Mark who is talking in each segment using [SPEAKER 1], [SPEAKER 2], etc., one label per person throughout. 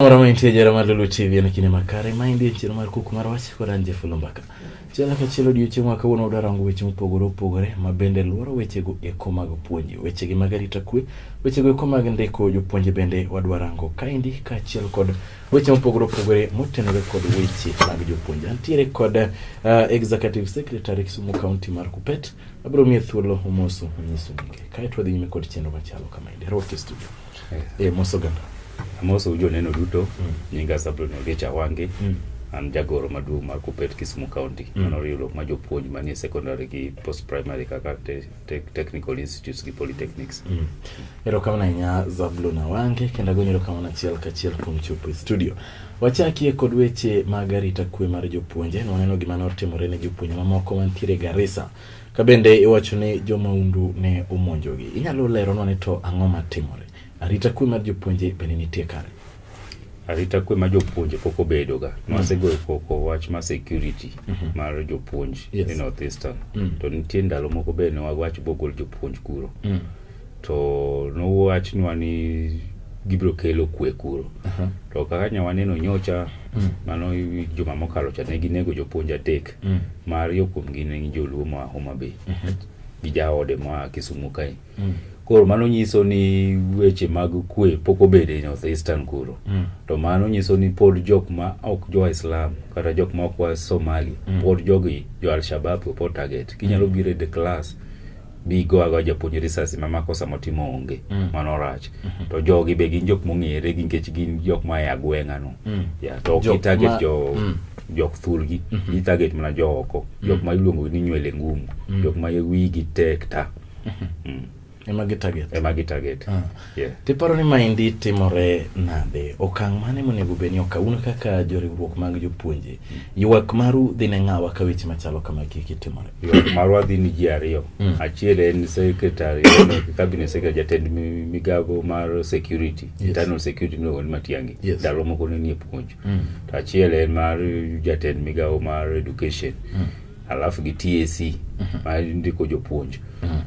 [SPEAKER 1] Moro mantie jara mar Lulu TV en kinde makare ma indie chiro mar kuku mar wach kod anje fulo mbaka. Chiel ka chiel odiechieng' wa kawuono wadwa rango weche mopogore opogore ma bende luoro wechego eko mag puonj, wechegi mag arita kwe, wechego eko mag ndiko jopuonje bende wadwa rango kaendi kaachiel kod weche mopogore opogore motenore kod weche mag jopuonje. Antiere kod uh, Executive Secretary Kisumu County mar Kupet, abiro miye thuolo omoso onyiso nyinge. Kae to wadhi nyime kod chenro machalo kama endi. Roke studio. Eh, eh moso ganda. Amoso ujo neno
[SPEAKER 2] duto. Mm. Nyinga Sabrina Ogecha Wange. Mm. an jagoro maduong' mar Kuppet Kisumu County mm. mano riwruok ma jopuonj manie secondary gi post primary kaka te, te, technical institutes gi polytechnics mm. erokamano
[SPEAKER 1] ahinya Zablon Awange kendo agonyi erokamano achiel kachiel kuom chopo e studio wachakie kod weche mag arita kwe mar jopuonje nwaneno gima notimore ne jopuonj mamoko mantiere Garissa Ka bende iwacho ni jo maundu ne omonjogi, inyalo leronwa ni to ang'o ma timore? Arita kwe mar jopuonje bende nitie kare? Arita
[SPEAKER 2] kwe mar jopuonje pok obedoga. Mm. Nwasegoyo koko wach mar security mm -hmm. mar jopuonj yes. e North Eastern. Mm. To nitie ndalo moko bende ne wawach bogol jopuonj kuro. Mm. to nowachnwa ni gibiro kelo kwe kuro uh -huh. to kaka nya waneno nyocha mm. mano juma mokalo cha ne ginego jopuonj adek mm. ma ariyo kuomgi ne gin joluo moa Homa Bay mm -hmm. gi jaode moa Kisumu kae mm. koro mano nyiso ni weche mag kwe pok obede e North Eastern kuro mm. to mano nyiso ni pod jok ma ok jo Islam kata jok ma ok wa Somali mm. pod jogi jo Al-Shabaab pod target kinyalo mm. biro e the class bigo ago japuonj risasi ma makosa motimo onge mm. mano rach mm -hmm. to jogi be gin jok mong'ere gi nikech gin jok ma e agweng'a no mm. ya to ok target ma... jo mm. jok thurgi mm -hmm. gitarget mana jo oko mm. jok ma iluongo ni nywele ngumu mm. jok ma wigi tek ta mm -hmm. mm.
[SPEAKER 1] ema gitarget ema gitarget ah. Yeah. Tiparo ni maendi timore nade? Okang' mane monego bed ni okaw? Un kaka joriwruok mag jopuonje, mm. ywak maru dhi ne ng'awa ka weche machalo kama kiki timore? Ywak marwa dhi ni
[SPEAKER 2] ji ariyo. Mm. Achiel en sekretari, cabinet secretary, jatend migago mar security, yes. internal security miluongo ni Matiang'i. Yes. Ndalo moko ne nie puonj. Mm. To achiel en mar jatend migawo mar education. Mm. Alafu gi TAC, mm -hmm. ma ndiko jopuonj. Mm -hmm.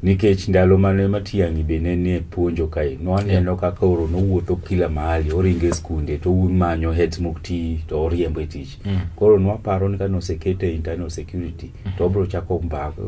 [SPEAKER 2] nikech ndalo mane matiangi be ne nie puonjo kae nwaneno kaka oro nowuotho kila mahali oringe skunde to un manyo heads mok ti to oriembo e tich mm. koro nwaparo ni kane osekete internal security mm. to obro chako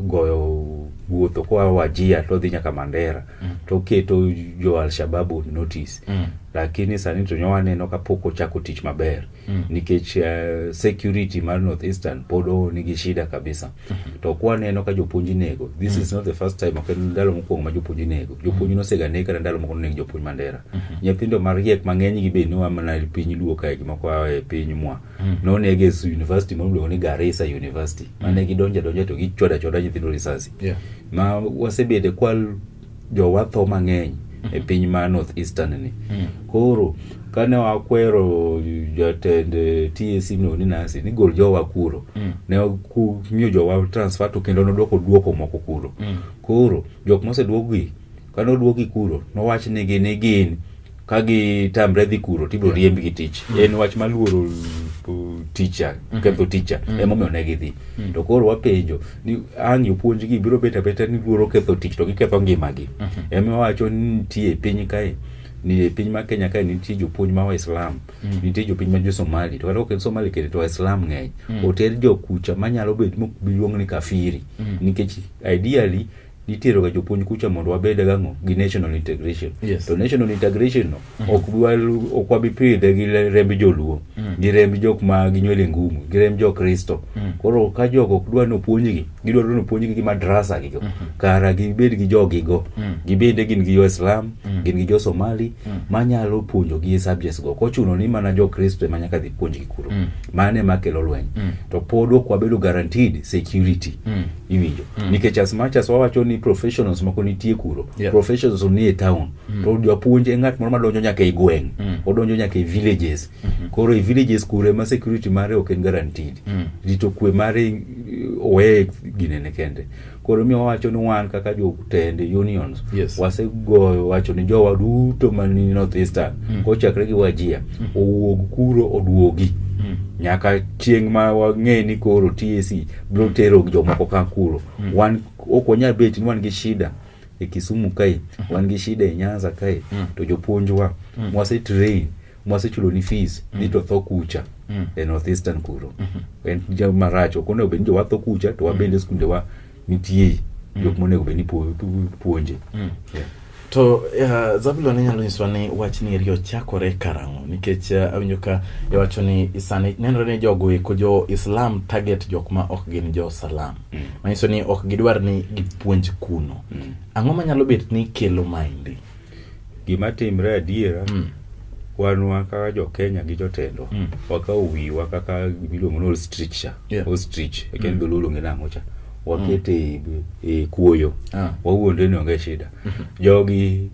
[SPEAKER 2] goyo wuotho koa wajia to odhi nyaka mandera mm. to oketo jo alshababu notice mm. lakini sani to nyowaneno kapok ochako tich maber mm. mm. nikech uh, security mar north eastern pod nigi shida kabisa mm -hmm. to kwa neno ka jopuonj nego this mm. is not the first time ok en ndalo mokwongo ma jopuonj nego mm. jopuonj nosega neg kata ndalo moko noneg jopuonj mandera mm -hmm. nyithindo mariek mang'eny gi be noa mana piny luo kae gi moko a e piny mwa mm. noneg e university ma iluongo ni garisa university mm. mane gidonja donja to gichwada chwada nyithindo risasi yeah. ma wasebede kwal jowa tho mang'eny e piny ma north eastern ni koro kane wakwero jatend eh, TAC no ni nasi ni gol jowa kuro ne ku- miyo jowa transfer to kendo nodwoko duoko moko kuro koro jok moseduokgi kane oduokgi kuro nowachnigi ni gin ka gitamre dhi kuro to ibiro riemb gi tich mm. en wach maluoro uh, ticha mm-hmm. ketho ticha mm. emomiyo ne gidhi mm. to koro wapenjo ni ang' jopuonjgi biro bet abeta ni luoro ketho tich to giketho ngimagi mm-hmm. emiwacho ni nitie e piny kae ni e piny ma Kenya kae nitie jopuonj ma Waislam mm. nitie jopiny ma Josomali to kata ok en Somali kende to Waislam ng'eny mm. oter jokucha manyalo bet mok biluong ni kafiri mm. nikech ideally nitero ga jopuonj kucha mondo wabed gang'o gi national integration yes. to national integration no mm -hmm. ok wabi pidhe gi remb joluo mm -hmm. gi remb jok ma ginywele ngumu gi remb jo kristo mm -hmm. koro ka jok ok dwa ni opuonjgi gidwaro ni opuonjgi gi madrasa gigo mm -hmm. kara gibed gi jogigo mm -hmm. gibende gin gi joislam mm -hmm. gin gi jo somali mm -hmm. manyalo puonjo gi subjects go kochuno ni mana jo kristo ema nyaka dhi puonjgi kuro mm -hmm. mano ema kelo lweny mm -hmm. to pod ok wabedo guaranteed security mm -hmm. iwinjo mm. nikech as much as wawacho ni professionals moko nitie kuro yeah. professionals ni e town mm. to japuonj e ng'at moro madonjo nyaka e gweng' mm. odonjo nyaka e villages mm -hmm. koro e villages kuro ema security mare ok en guaranteed mm. rito kwe mare eh, oweye ginene kende koro mi wawacho ni wan kaka jotende unions yes. wasegoyo wacho ni jowa duto mani north eastern mm. kochakre gi wajia mm. owuog kuro oduogi mm. nyaka chieng' ma wang'e ni koro tac biro mm. tero jomoko ka kuro mm. wan ok wanyal bet ni wan gi shida e Kisumu kae mm-hmm. wan gi shida e Nyanza kae mm. to jopuonjwa mm. mwase train mwasechulo ni fees mm. ni to tho kucha mm. e northeastern kuro mm -hmm. en ja marach ok onego bed ni jowatho kucha to wabende mm. skunde wa nitie mm. jok monego bed ni puonje mm. yeah.
[SPEAKER 1] To uh, Zabulon inyalo nyiswa ni wach ni eri ochakore karang'o nikech uh, awinjo ka iwacho ni sani nenore ni jogo eko jo Islam target jok ma ok gin jo Salam. Mm. Manyiso ni ok gidwar ni gipuonj kuno. Mm. Ang'o manyalo bet ni kelo maendi? Gima
[SPEAKER 2] timre adiera mm. wanwa kaka jo Kenya gi jotendwa mm. wakawo wiwa kaka miluongo ni ostrich cha. Yeah. Ostrich. Ekendo mm. lulu ngina mocha. wakete mm. e kuoyo ah. wawuonde ni onge shida mhm. jogi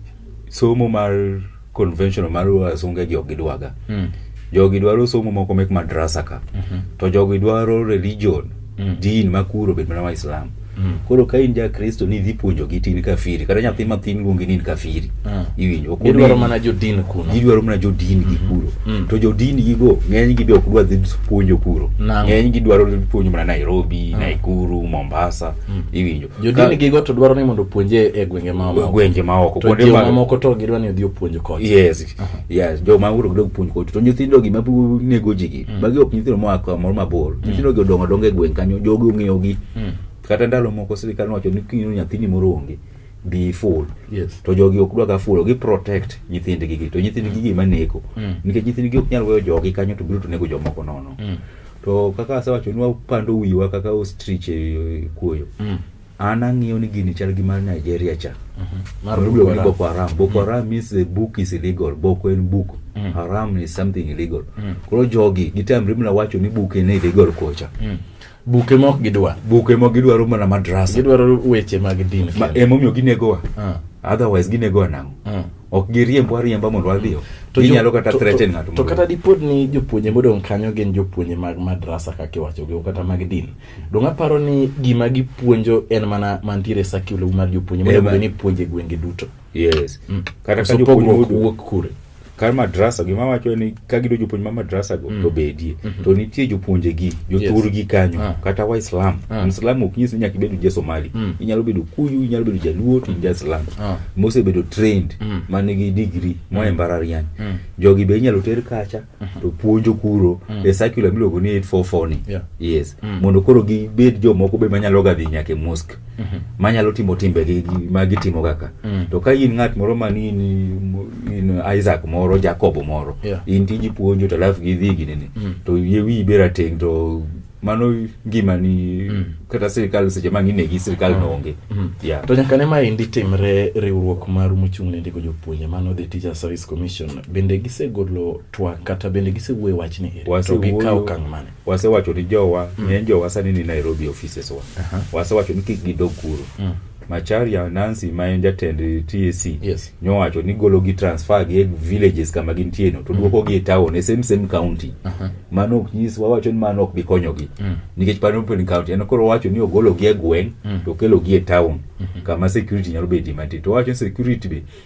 [SPEAKER 2] somo mar conventional mar wasunge gi ok gidwaga mm. jogi dwaro somo moko mek madrasa ka mm -hmm. to jogi dwaro religion mm. din makuro bed mana waislam mm. koro ka in ja kristo ni idhi puonjogi tin kafiri kata nyathi mathin luongi ni in kafiri Ah. iwinjo ok gidwaro onegi. mana jodin
[SPEAKER 1] kuno gidwaro mana jodin gi
[SPEAKER 2] kuro Mm. to jodin gigo ng'eny gi be ok dwa dhi puonjo kuro Nang'o? ng'eny gidwaro dhi puonjo mana nairobi Ah. naikuru mombasa Mm. iwinjo jodin gigo to
[SPEAKER 1] dwaro ni mondo opuonje e gwenge ma Ka- gwenge maoko to kuonde
[SPEAKER 2] ma- jomamoko
[SPEAKER 1] to gidwa ni odhi opuonj kocha yes yes
[SPEAKER 2] joma uro dog puonj kotu to nyithindo gi mabu nego ji gi Mm. magi ok nyithindo moa kamoro mabor nyithindo gi odongo dongo e gweng kanyo jogi ong'eyo gi Mm. kata ndalo moko sirikal nowacho ni king'eyo nyathini moro onge be full yes. to jogi ok dwaga full gi protect nyithindgi gi to nyithindgi gi maneko mm. nikech nyithindgi ok nyal weyo jogi kanyo to biro to nego jomoko nono mm. to kaka asewacho ni wapando wiwa kaka ostrich e kuoyo mm. an ang'iyo ni gini chal gi mar Nigeria cha mm -hmm. ni Boko Haram Boko mm. Haram mm. means the book is illegal Boko en book mm. Haram is something illegal mm. koro jogi gitamre mna wacho ni book en illegal kocha mm. buke mok
[SPEAKER 1] gidwa buke mok gidwaro
[SPEAKER 2] mana madrasa gidwaro weche mag
[SPEAKER 1] din ma emomiyo ginegowa
[SPEAKER 2] uh. otherwise ginegowa nang'o uh. ok giriembwa riemba mondo wadhiyo ginyalo kata threaten ng'ato to kata dipod ni
[SPEAKER 1] jopuonje modong' kanyo gin jopuonje mag madrasa kaka iwachogi o kata mag din dong' aparo ni gima gipuonjo en mana mantiere sakilu mar jopuonje monego bed ni puonje gwenge duto yes mm. kata
[SPEAKER 2] ka jopuonje wuok kure kar madrasa gima wacho ni ka gido jopuonj ma madrasa go mm. to bedie mm -hmm. to nitie jopuonje gi jothur gi kanyo ah. kata waislam ah. mslam ok nyis ni nyaka ibedo ja somali mm. inyalo bedo kuyu inyalo bedo jaluo to mm. ja islam ah. mosebedo trained mm. man gi degree mm. moa e mbarariany mm. jogi be inyalo ter kacha mm -hmm. to puonjo kuro mm. e circular miluongo ni 844 ni yeah. yes mm. mondo koro gibed jomoko be manyalo ga dhi nyaka e mosque Mhm. manyalo timo timbe gi- gi- ma gitimo kaka Mm. to ka in ng'at moro man in, in isaac moro jacobo moro Yeah. in tiji puonjo to alafu gidhi ginene Mm. to yie wiyi be rateng' to mano ngimani Mm. kata sirikal seche ma ng'inegi sirikal Mm. noonge Mm. Yeah. to nyaka ne
[SPEAKER 1] ma endi timre riwruok maru mochung' ne ndiko jopuonje mano the teacher service commission bende gisegolo twak kata bende gisewuoye wachni eri to Wasewuoyo. gikawo okang' mane wasewacho ni jowa
[SPEAKER 2] mm. ng'eny jowa sani ni Nairobi offices wa uh -huh. wasewacho ni kik gidog kuro mm. Macharia Nancy ma en jatend TAC yes. nyowacho ni golo gi transfer gi e villages kama gintie no to mm. duoko gi e town e same same county uh -huh. mano ok nyis wawacho ni mano ok bi konyogi mm. nikech pano Pwani county en koro wacho ni ogolo gi e gweng mm. to kelo gi e town mm -hmm. kama security nyalo bedo mantie to wacho security be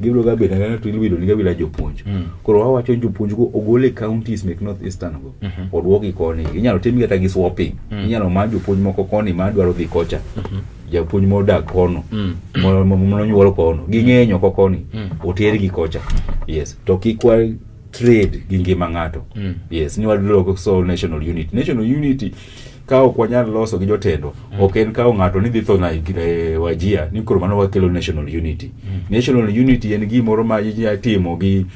[SPEAKER 2] gibiro ga bedo anena to iluido niga bila jopuonj mm. koro wawacho jopuonj go ogol e counties mek north eastern go mm -hmm. odwoki koni inyalo tim kata gi swapping mm. inyalo ma jopuonj moko koni ma dwaro dhi kocha mm -hmm. japuonj modak kono mm. mononyuol kono ging'eny oko koni mm. otergi kocha yes to kik trade gi ngima ng'ato mm. yes ni wadloko so national unity national unity ka ok wanyal loso gi jotendwa mm. ok en kawo ng'ato ni dhi tho na e, wajia ni koro mano wakelo national unity mm. national unity en gimoro ma itimo gi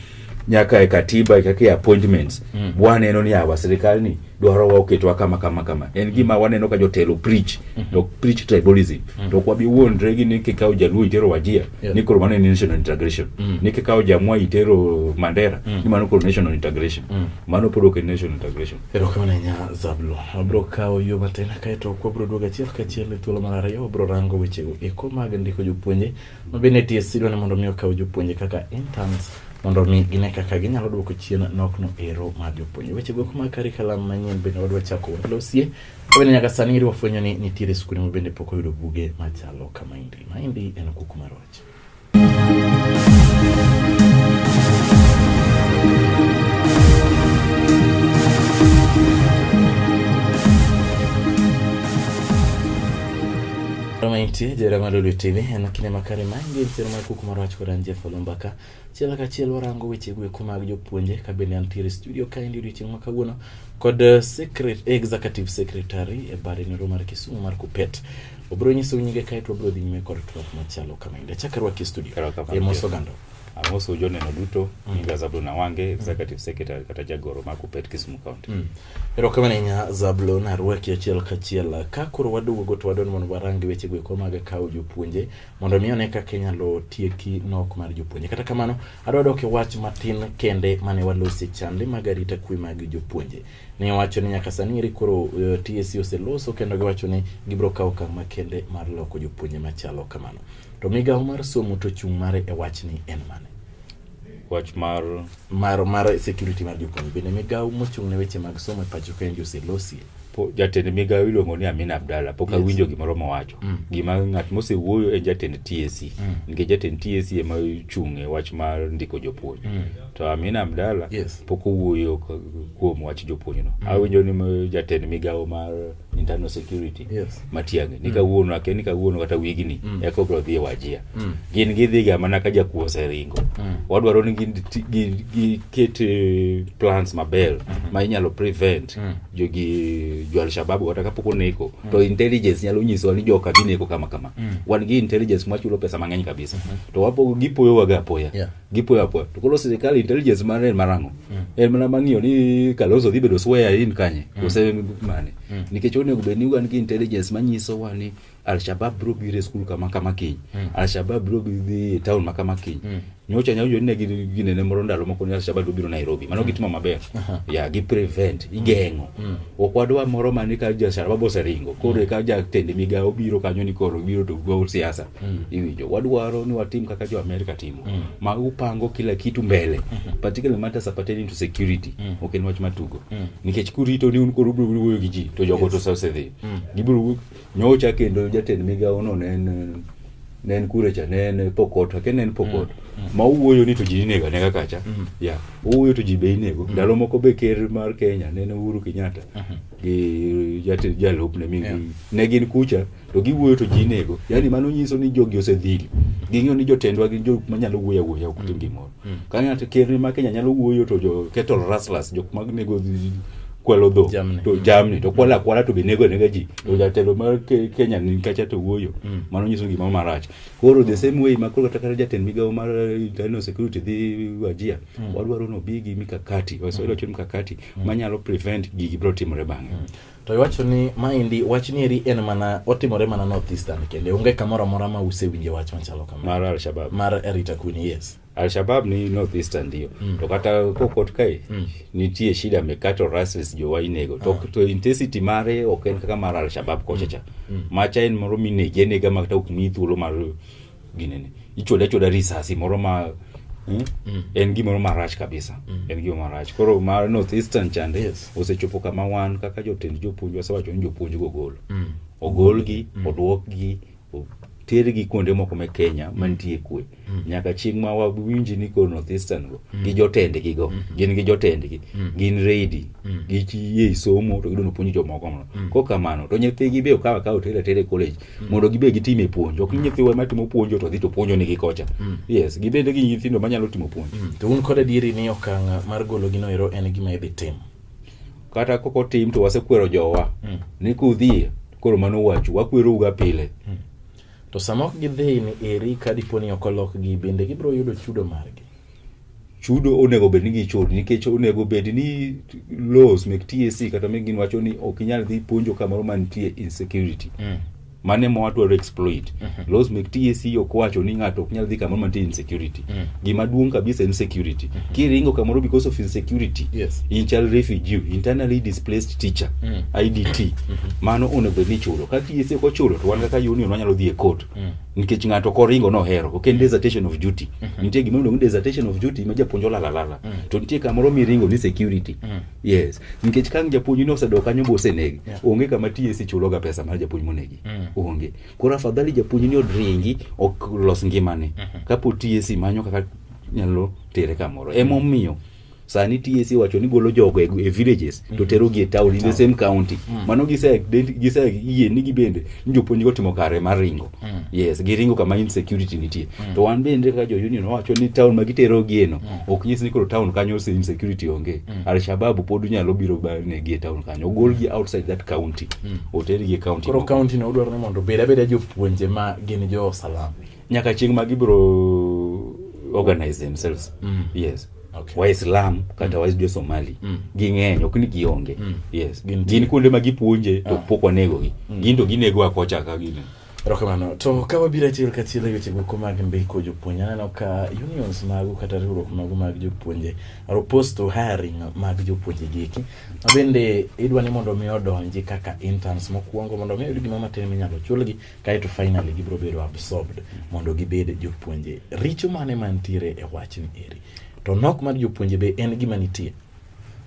[SPEAKER 2] nyaka e katiba kaka e appointments mm. waneno ni awa sirikal ni dwaro wa oketwa kama kama kama en mm. gima waneno ka jotelo preach mm -hmm. to preach tribalism mm. to kwa bi wuondre gi ni kikawo jaluo itero wajia yeah. ni koro mano en national integration mm. ni kikawo jamwa itero mandera mm. ni mano koro national integration mm. mano pod ok en national integration Erokamano ahinya
[SPEAKER 1] Zablo. Wabiro kawo yo matin kae to kwabiro duogo achiel kachiel e thuolo mar ariyo wabiro rango wechego eko mag ndiko jopuonje ma bende tie sidwa ni mondo mi okaw jopuonje kaka interns mondo mi gine kaka ginyalo duoko chien nokno ero mar jopuonje. Wechego eko mag karikalam manyien bende wadwa chako walosie. Wabende nyaka sani iri wafwenyo ni nitiere skunde ma bende pok oyudo buge machalo kama indi. Maendi en kuku mar wach. Miti jerama lulu TV en kinde makare ma ingi sero mar kuku mar wach kod an Jeff Olumbaka. Chiel ka chiel warango weche gweko mag jopuonje ka bende antiere studio ka endi odiochieng' ma kawuono kod eh, secret, executive secretary e bare nero mar Kisumu mar Kupet. Obiro nyiso nyinge kae to wabiro dhi nyime kod twak machalo kama inde. Chak arwaki e studio. E mos oganda. Amoso joneno
[SPEAKER 2] duto mm. nyinga Zablon Awange mm. executive secretary kata jagoro ma Kupet Kisumu County. Mm. Erokamano ahinya
[SPEAKER 1] Zablon arwaki achiel kachiel ka koro waduogo to wadwani mondo warangi weche go eko mag kawo jopuonje mondo mi one kaka inyalo tieki nok mar jopuonje. Kata kamano adwa dok e wach matin kende mane walosi chande mag arita kwe mag jopuonje. ne owacho ni nyaka sani eri koro uh, eh, TSC oseloso kendo giwacho ni gibiro kawo okang' makende mar loko jopuonje machalo kamano. To migawo mar somo to chung' mare e wachni en mane? wach
[SPEAKER 2] mar mar
[SPEAKER 1] mar security mar jopuonje bende migawo mochung' ne weche mag somo e pacho ka en Jose Losie jatend migawo
[SPEAKER 2] iluongo ni Amina Abdalla pok awinjo yes. gimoro mowacho mm. gima ng'at mosewuoyo en jatend TSC e. mm. nikech jatend TSC e ema ochung' e wach mar ndiko jopuonj mm. To Amina Abdalla yes. pok owuoyo kuom wach jopuonjno. Mm. Awinjo ni jatend migawo mar internal security yes. Matiang'i ni mm. kawuono ake ni kawuono kata wigni mm. eko bro dhi e wajia mm. gin gidhiga mana ka jakuo oseringo mm. wadwaro ni giket eh, plans maber mm -hmm. ma inyalo prevent mm. jogi jo Alshababu kata kapok oneko mm. to intelligence nyalo nyisowa ni joka dhi neko kama kama mm. wan gi intelligence mwachulo pesa mang'eny kabisa mm -hmm. to wapo gipoyowaga apoya yeah. gipoya apoya to koro sirikal intelligence mare en marang'o mm. en mana mang'iyo ni Kalonzo dhi bedo sweya in kanye mm. kose mane mm. nikech onego bed ni wan gi intelligence manyiso wa ni Alshabab biro biro e skul kama kama kiny mm. Alshabab biro dhi e town ma kama kiny mm. nyocha nyawinjo ni ne ginene moro ndalo moko ni Alshabab biro Nairobi mano mm. gitimo maber uh -huh. ya yeah, gi prevent mm. igeng'o mm. ok wadwa moro mane ka Alshabab oseringo koro mm. ka jatend migawo biro kanyo ni koro biro to gol siasa Mm. Iwinjo, wadwaro ni watim kaka jo Amerika timo mm. ma upango kila kitu mbele mm -hmm. particularly matters pertaining to security mm. ok en wach matugo mm. nikech kurito ni un koro ubiro wuoyo gi ji to jogo yes. to sase dhi mm. gibiro nyocha kendo jatend migawo no ne en ne en kure cha ne en pokot ake ne en pokot mm. mm. ma uwuoyo ni to ji inego anega kacha mm. Mm-hmm. ya yeah. uwuoyo to ji be inego mm. ndalo moko be ker mar Kenya ne en Uhuru Kenyatta mm -hmm. gi jatend jalupne mi yeah. ne gin kucha mm. to giwuoyo to ji nego yani mano nyiso ni jogi osedhili ging'eyo ni jotendwa gin jok manyalo wuoyo awuoya ok tim gimoro mm. ka ng'ato ker ma Kenya nyalo wuoyo to jo kettle rustlers jok mag nego kwalo dho to jamni to kwala kwala to be nego nega ji to jatelo mar Kenya ni kacha to wuoyo mm. mano nyiso gima marach koro the same way makoro kata kata jatend migawo mar eh, internal security dhi wajia mm. wadwaro no bigi mikakati wasoilo mm. chon mikakati manyalo prevent gigi bro timore bang'e to iwacho ni
[SPEAKER 1] maendi wach nieri en mana otimore mana north eastern kende onge kamoro amora ma usewinje wach machalo kama mar alshabab mar
[SPEAKER 2] rita kuni
[SPEAKER 1] yes alshabab ni
[SPEAKER 2] north eastern ndio mm. to kata kokot kae mm. nitie shida mekato rasis jowa inego to, ah. to intensity mare ok en kaka mar alshabab kochacha mm. mm. macha en moro minege nega makata ok mi thuolo mar ginene ichode achoda risasi moro ma hmm? mm. en gimoro marach kabisa mm. en gima marach koro mar north eastern chande yes. osechopo kama wan kaka jotend jopuonj wasewacho ni jopuonj go gol mm. ogolgi mm. odwokgi tergi kuonde moko me Kenya mm. mantie kwe mm. nyaka chieng' ma wawinji ni koro North Eastern go mm. gi jotendgi go mm -hmm. gin gi jotendgi mm. gin ready mm. gichie somo to gidono puonjo jomoko mono mm. ko kamano to nyithigi be okawa ka otere tere college mm. mondo gibed gitime puonj ok mm. nyithiwa matimo puonjo to dhi to puonjo nigi kocha mm. yes gibed gi nyithindo manyalo timo puonj mm. to un kod adieri ni
[SPEAKER 1] okang' mar golo gino ero en gima idhi tim kata
[SPEAKER 2] koko tim to wasekwero jowa mm. ni kudhie koro mano wachu wakwerouga pile mm. to
[SPEAKER 1] sama ok gidhi ni eri ka dipo ni ok olokgi bende gibiro yudo chudo margi chudo
[SPEAKER 2] onego bed ni gichudi nikech onego bed ni laws mek TSC e kata mek gin wacho ni ok inyal dhi puonjo kamoro mantie insecurity mm. mane ma wadwaro exploit mm -hmm. laws mek TSC e ok wacho ni ng'ato ok nyal dhi kamoro mantie insecurity mm. gima duong' kabisa insecurity mm -hmm. kiringo kamoro because of insecurity yes. in child refugee internally displaced teacher mm. IDT mm -hmm. mano onego bed ni chulo ka TSC e ok ochulo to wan kaka union wanyalo dhi e court mm. nikech ng'ato koringo nohero ok en mm. desertation of duty mm -hmm. nitie gima iluongo desertation of duty ma japuonj olalalala mm. to nitie kamoro miringo ni security mm. yes nikech kang japuonj ni osedok kanyo bosenegi yeah. onge kama TSC chuloga pesa mar japuonj monegi mm. onge koro afadhali japuonj ni odringi ok los ngimane mm -hmm. kapo TSC manyo kaka nyalo tere kamoro emomiyo mm. sani TSC wacho ni golo jogo e, e villages mm -hmm. to tero gi e town in the same county mm -hmm. mano gise gise yie ni gibende ni jopuonj go timo kare mar ringo mm -hmm. yes giringo kama insecurity nitie mm -hmm. to wan bende kaka jo union wacho ni town ma gitero gi eno mm -hmm. ok nyis ni koro town kanyo se insecurity onge mm -hmm. al shabab pod nyalo biro ne gi e town kanyo gol gi outside that county mm -hmm. oter gi e county koro county no udwaro ni
[SPEAKER 1] mondo beda beda jopuonje ma gin jo salama nyaka chieng' ma
[SPEAKER 2] gibiro organize themselves mm. yes okay. waislam
[SPEAKER 1] kata mm.
[SPEAKER 2] wajo somali mm. ging'eny ok ni gionge mm. yes gin kuonde ma gipuonje to ah. pok wanegogi mm. gin to ginego akocha ka gine erokamano to
[SPEAKER 1] ka wabiro achiel kachiel e weche goko mag ndiko jopuonje aneno ka unions magu kata riwruok magu mag jopuonje are opposed to hiring mag jopuonje giki mabende idwa ni mondo mi odonji kaka interns mokwongo mondo mi oyud gima matin minyalo chulgi kae to finally gibiro bedo absorbed mondo gibed jopuonje richo mane mantiere e wachni eri to nok mar jopuonje be en gima nitie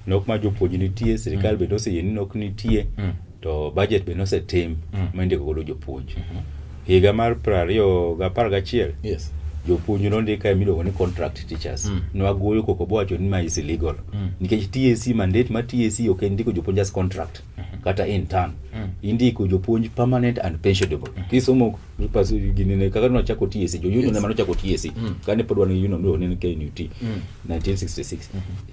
[SPEAKER 1] nok mar
[SPEAKER 2] jopuonje nitie sirikal mm. bende oseyie ni nok nitie mm. to budget bende osetim mm. mindiko godo jopuonj mm-hmm. higa mar piero ariyo gi apar gachiel yes
[SPEAKER 1] jopuonj nondika
[SPEAKER 2] e miluongo ni contract teachers mm. nwagoyo koko bowacho ni ma is illegal mm. nikech TSC mandate ma TSC ok en ndiko jopuonj as contract Mhm. kata in turn Mm. indiko jopuonj permanent and pensionable Mhm. kisomo papers ginene kaka nochako TSC jo union Yes. ema nochako TSC Mm. kane pod wan gi union no ne KNUT Mm. 1966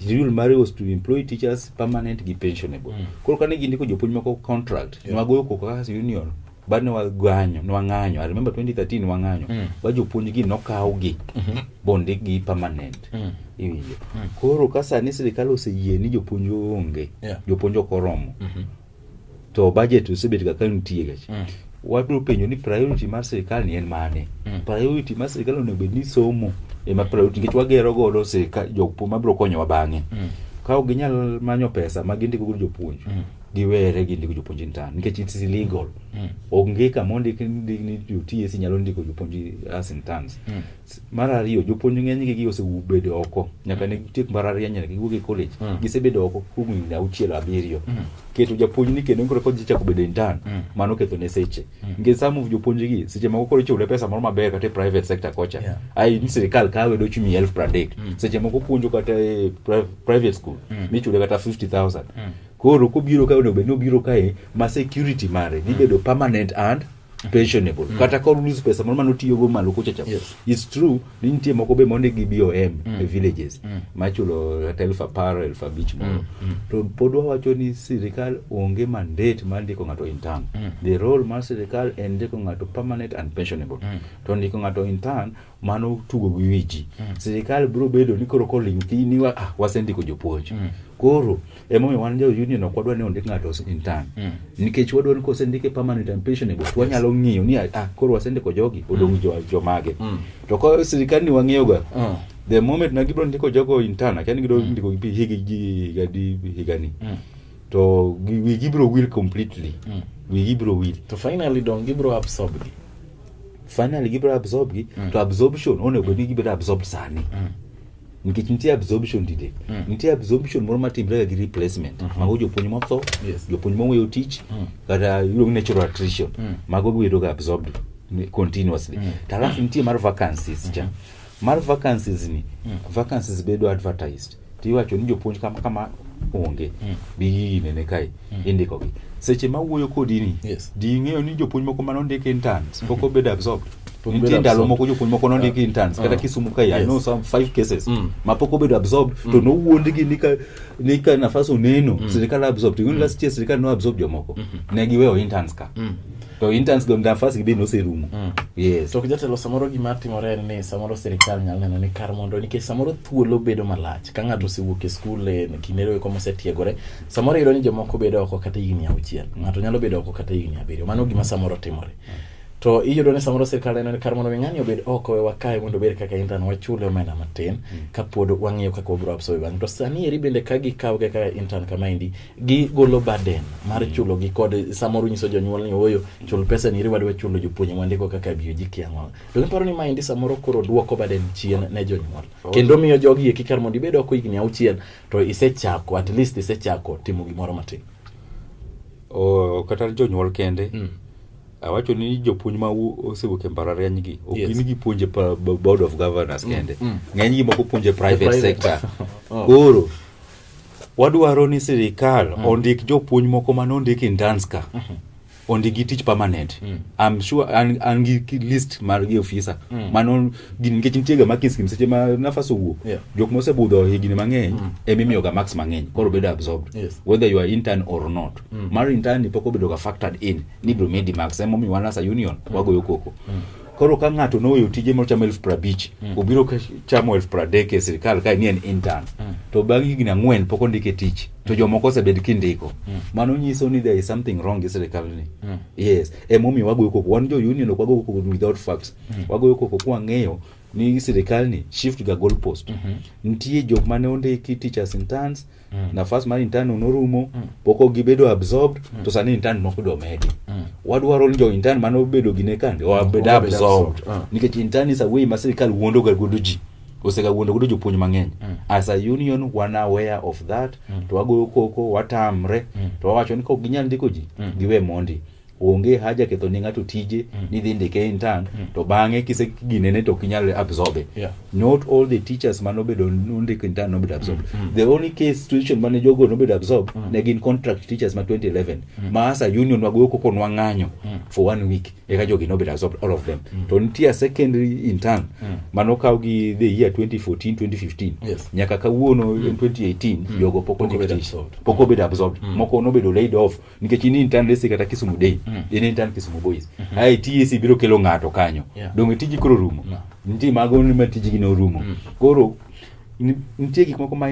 [SPEAKER 2] the rule mare was to employ teachers permanent gi pensionable Mm. koro kane gindiko jopuonj moko contract Yes. nwagoyo koko kaka union bad ne wagwanyo ne wang'anyo i remember 2013 wang'anyo mm. ba jopuonj gi nokaw gi mm -hmm. bonde gi permanent mm. iwinjo mm. koro ka sani sirikal oseyie ni jopuonj onge yeah. jopuonj ok oromo mm -hmm. to budget osebet ga ka nitie gach mm. wabiro penjo ni priority mar sirikal ni en mane mm. priority mar sirikal onego bed ni somo ema priority nikech wagero godo sirikal jopuonj mabiro konyowa bang'e mm. ka ok ginyal manyo pesa ma gindiko godo jopuonj mm. giwere gi ndiko jopuonj intern nikech it's illegal mm. onge kama ondik ni jots nyalo ndiko jopuonj as interns mm. mar ariyo jopuonj ng'enygi gi osebedo oko nyaka ne tiek mbalariany nyaka giwuog e college mm. gisebedo oko kuom higni auchiel abiriyo mm. keto japuonj ni kendo koro kodhi chako bedo intern mm. mano ketho ne seche mm. nikech some of jopuonj gi seche moko koro ichule pesa moro maber kata e private sector kocha yeah. ai ni sirikal kawe dochi miya elfu pradek mm. seche moko puonjo kata e private school mm. michule kata 50000 mm. Koro kobiro ka onego bed ni obiro kae ma security mare dhi bedo permanent and pensionable mm. kata kor lose pesa moro mane otiyogo malo kucha cha yes. it's true ni nitie moko be mondi gi BOM mm. e villages mm. machulo kata elfu apar elfu abich moro mm. mm. to pod wawacho ni sirikal onge mandate mar ndiko ng'ato in turn mm. the role mar sirikal en ndiko ng'ato permanent and pensionable mm. to ndiko ng'ato in turn mano tugo gi wi ji mm. sirikal biro bedo ni koro koling' thi ni ah, wasendiko jopuonj mm. koro emomiyo wan jo union ok wadwa ni ondik ng'ato intern mm. nikech wadwa ni kosendike permanent and pensionable to wanyalo ng'iyo ni ah, ah koro wasendiko jogi mm. odong' mm. jomage mm. to ka sirikal ni wang'iyoga mm. the moment na gibiro ndiko jogo intern akia ni gidong' mm. ndiko gi higi ji higa di higa ni mm. to wigi biro will completely mm. wigi biro will to finally dong' gibiro
[SPEAKER 1] absorb gi
[SPEAKER 2] finally gibiro absorb gi mm. to absorption onego bed ni gibiro absorb sani mm. nikech nitie absorption dide mm. nitie absorption moro matimrega gi replacement mm -hmm. mago jopuonj motho yes. jopuonj moweyo tich mm. kata iluongo natural attrition mm. mago gibedoga absorbed continuously mm. to alafu nitie mar vacancies cha mm -hmm. mar vacancies ni mm. vacancies bedo advertised to iwacho ni jopuonj kama kama onge mm. bi gigi nene kae mm. indiko gi seche ma wuoyo kodi ni yes. di ing'eyo ni jopuonj moko mane ondiki interns pok mm -hmm. obedo absorbed nitie ndalo moko jopuonj moko nondiki uh, interns uh, kata kisumu kae yes. i know some five cases mm. ma pok obedo absorbed mm. to nowuondgi ni ka ni ka nafas oneno mm. sirikal absorbed even mm. last year sirikal no absorb jomoko mm -hmm. ne giweyo interns ka mm. to interns go nafas gi be noserumo mm. yes to jatelo samoro
[SPEAKER 1] gima timore en ni samoro sirikal nyalo neno ni kar mondo nikech samoro thuolo bedo malach ka ng'ato osewuok e skul e kindero eko mosetiegore samoro iyudo ni jomoko bedo oko kata higni auchiel ng'ato nyalo bedo oko kata higni abiriyo mano gima samoro timore to iyudo ni samoro sirikal neno ni kar mondo mi ng'ani obed oko e wakae mondo obed kaka intern wachule omenda matin mm. kapod wang'iyo kaka wabiro absorbe bang' to sani eri bende ka gikaw kaka intern kama endi gigolo burden mar mm. chulo gi kod samoro nyiso jonyuol ni ooyo chul pesa ni wadwa chulo jopuonje mwandiko kaka biyo ji kiang'o to giparo ni maendi samoro koro duoko burden chien ne jonyuol oh. kendo miyo jogi eki kar mondo ibed oko higni auchiel to isechako at least isechako timo gimoro matin oh, kata
[SPEAKER 2] jonyuol kende mm. awacho ni jopuonj ma osewuok e mbalariany gi ok gin gipuonje board of governors mm, kende mm. ng'eny gi moko puonje private sector oh. koro Wadwaro ni sirikal mm. ondik jopuonj moko ma nondik interns ka mm -hmm. ondigi tich permanent mm. I'm sure an, an gi list mar gi ofisa mm. mano nikech nitie ga makis kim seche ma nafas owuok yeah. jok mosebudho higni mang'eny mm. ema imiyo ga max mang'eny koro bedo absorbed yes. whether you are intern or not mm. mar intern ni pok obedo ga factored in ni bro medi max ema omiyo wan as a union mm. wagoyo koko mm. Koro ka ng'ato noweyo tije mochamo elfu prabich mm. obiro chamo elfu pradek e sirikal kae ni en intern mm. to bang' higni ang'wen pok ondike tich to mm. jomoko osebed kindiko mm. mano nyiso ni there is something wrong gi sirikal ni mm. yes emomiyo wagoyo koko wan jo union ok wagoyo koko without facts mm. wagoyo koko kwang'eyo ni sirikal ni shift ga goal post mm -hmm. nitie jok mane ondiki teachers interns mm mm. nafas mar intern norumo mm. poko gibedo absorbed mm. to sani intern moko do medi mm. wadwaro ni jo intern mano bedo gine kande o bedo absorbed mm. nikech intern is a way ma sirikal wuondo ga godo ji osega wuondo godo jopuonj mang'eny mm. as a union wan aware of that mm. to wagoyo koko watamre mm. to wawacho ni kok ginyal ndiko ji mm. giwe mondi onge haja ketho ne ng'ato tije mm. ni dhi ndike intern mm. to bang'e kise ginene to kinyal absorbe yeah. not all the teachers mane obedo nondiko intern nobedo absorb mm. mm. the only case situation mane jogo nobedo absorb mm. ne gin contract teachers ma 2011 mm. ma asa union wagoyo koko nwang'anyo mm. for one week eka jogi nobedo absorb all of them mm. to nitie secondary intern mm. mane okaw gi the year 2014 2015 yes. nyaka kawuono mm. 2018 mm. jogo pok obedo absorbed mm. moko nobedo laid off nikech in intern resi kata Kisumu Day mm. in intern Kisumu Boys mm -hmm. ai TSC biro kelo ng'ato kanyo yeah. donge tiji koro rumo no. nitie mago ma tijigi ne orumo mm. koro nitie gik moko ma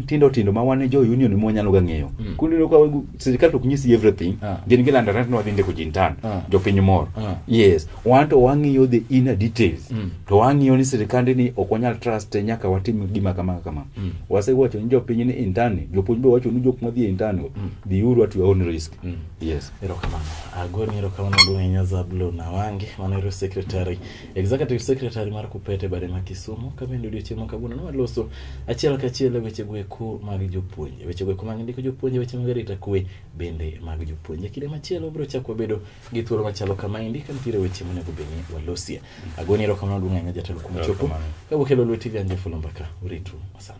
[SPEAKER 2] tindo tindo ma wan jo union mo nyalo ga ng'eyo mm. kundi no ka sirkal to nyisi everything ah. gin gi landa rent no dinde ko jintan ah. jo piny mor ah. yes wan to wang'iyo the inner details mm. to wang'iyo ni sirkande ni ok wanyal trust nyaka watim gima kama kama mm. wasewacho ni jo piny ni intani jopuonj be wacho ni jok madhi intani mm. Biuru at your own risk. Mm. Yes. Erokamano.
[SPEAKER 1] Agoni erokamano Dwayne Zablo Nawange, manero secretary, executive secretary mar Kupete bare ma Kisumu, ka bende odiochieng' ma kawuono nwaloso achiel kachiel e weche gweko mag jopuonje. Weche gweko mag ndiko jopuonje, weche mag arita kwe bende mag jopuonje. Kinde machielo wabiro chako wabedo gi thuolo machalo kama endi ka nitiere weche monego bed ni walosie. Agoni erokamano Dwayne Jatelo kuom chopo. Kawuok e Lolwe TV Anje Fulomba ka uritu masani.